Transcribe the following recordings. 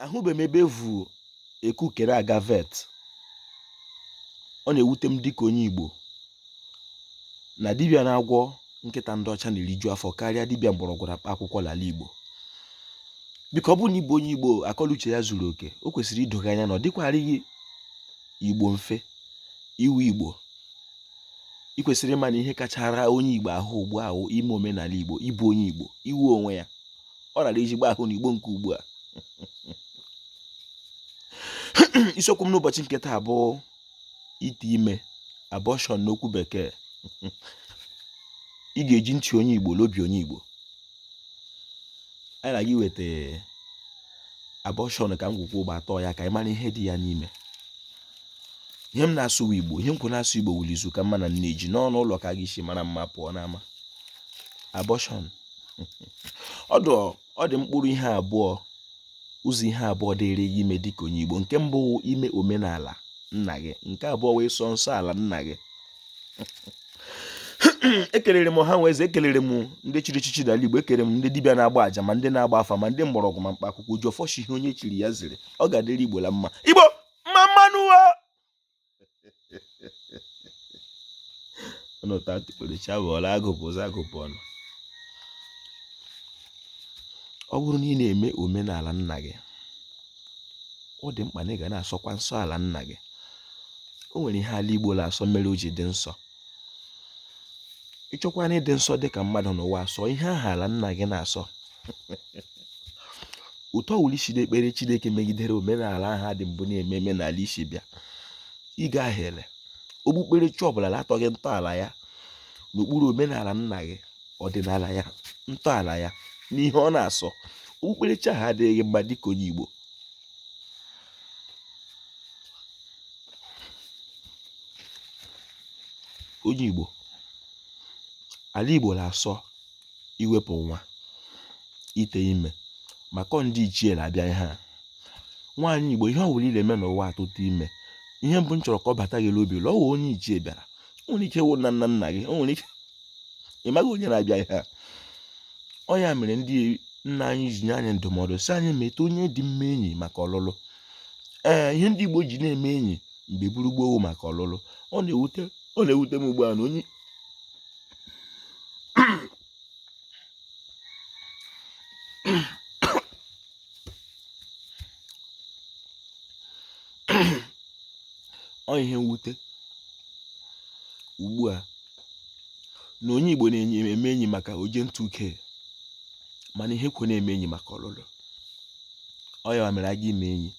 ahụbe m ebe e vu ekukere aga vet ọ na-ewute m dịka onye Igbo na dibịa na-agwọ nkịta ndị ọcha na-eriju afọ karịa dibịa mgbọrọgwụ na mkpa akwụkwọ n'ala Igbo biko ọ bụrụ na ị bụ onye Igbo akọ l'uche ya zuru oke o kwesịrị ido gị anya na ọ dịkwarịghị Igbo mfe ịwụ Igbo ị kwesịrị ịma na ihe kachara onye Igbo ahụ ugbu a wụ ime omenala Igbo ịbụ onye Igbo ịwụ onwe ya ọ rara ezigbo ahụ n'igbo nke ugbu a isiokwu m n'ụbọchị nke taa bụ ite ime abortion n'okwu bekee ị ga-eji ntị onye igbo na obi onye igbo anyị na-aga iweta abortion ka ngwugwu gbatọ ya ka anyị mara ihe dị ya n'ime ihe m na-asụ igbo ihe m kwụ na-asụ igbo wụ l'izu ka mma na nne ji n'ọnụ ụlọ ka a ga-esi mara mma pụọ n'ama abortion ọ dị ọ dị mkpụrụ ihe abụọ ụzọ ihe abụọ dịrị gị ime dịka onye Igbo nke mbụ ime omenala nna gị nke abụọ wụ ịsọ nsọ ala nna gị ekelere m ọha nwe eze ekelere m ndị chiri echichi n'ala Igbo ekelere m ndị dibịa na-agba aja ma ndị na-agba afa ma ndị mgbọrọgwụ ma mkpa akwụkwọ ji ọfọ sị ihe onye chiri ya ziri ọ ga-adịrị Igbo la mma Igbo mma mma nụ ọnụ taa atụ ekpere chi abọọla a gụpụ ụzọ a gụpụ ọnụ ọ bụrụ na ị na-eme omenala nna gị ọ dị mkpa na ị ga na-asọkwa nsọ ala nna gị o nwere ihe ala igbo na-asọ mere o ji dị nsọ ị chọkwanụ ịdị nsọ dị ka mmadụ n'ụwa a sọ ihe ahụ ala nna gị na-asọ otu ọwụla i si na-ekpere chineke megidere omenala ahụ dị mbụ na-eme eme n'ala i si bịa ị gahiele okpukperechi ọbụla atọghị ntọala ya n'okpuru omenala nna gị ọdịnala ya ntọala ya na ihe ọ na-asọ okpukperechi ahụ adịghị mma dịka onye igbo onye Igbo ala Igbo na-asọ iwepụ nwa ite ime maka ndị ichie na-abịa ihe a nwaanyị Igbo ihe ọ bụla ị na-eme n'ụwa atụtụ ime ihe mbụ m chọrọ ka ọ bata gị n'obi la ọ wụ onye ichie bịara o nwere ike wụ nna nna nna gị o nwere ike ị maghị onye na-abịa ihe a ọ ya mere ndị nna anyị ji nye anyị ndụmọdụ sị anyị meta onye dị mma enyi maka ọlụlụ ee ihe ndị Igbo ji na-eme enyi mgbe buru gboo wụ maka ọlụlụ ọ ọ na-ewute m ugbu a na onye ọ ihe mwute ugbu a na onye Igbo na-eme enyi maka oje ntụ uke mana ihe kwe na-eme enyi maka ọlụlụ ọ ya mere a gaa ime enyi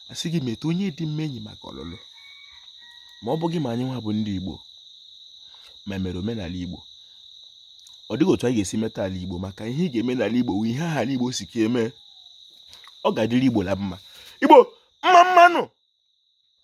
a sị gị meta onye dị mma enyi maka ọlụlụ ma ọ bụghị ma anyị nwa bụ ndị Igbo ma mere omenala Igbo ọ dịghị otu anyị ga-esi meta ala igbo maka ihe ị ga-eme n'ala igbo ihe ahụ ala igbo sị ka e mee ọ ga-adịrị igbo na mma igbo mma mma nụ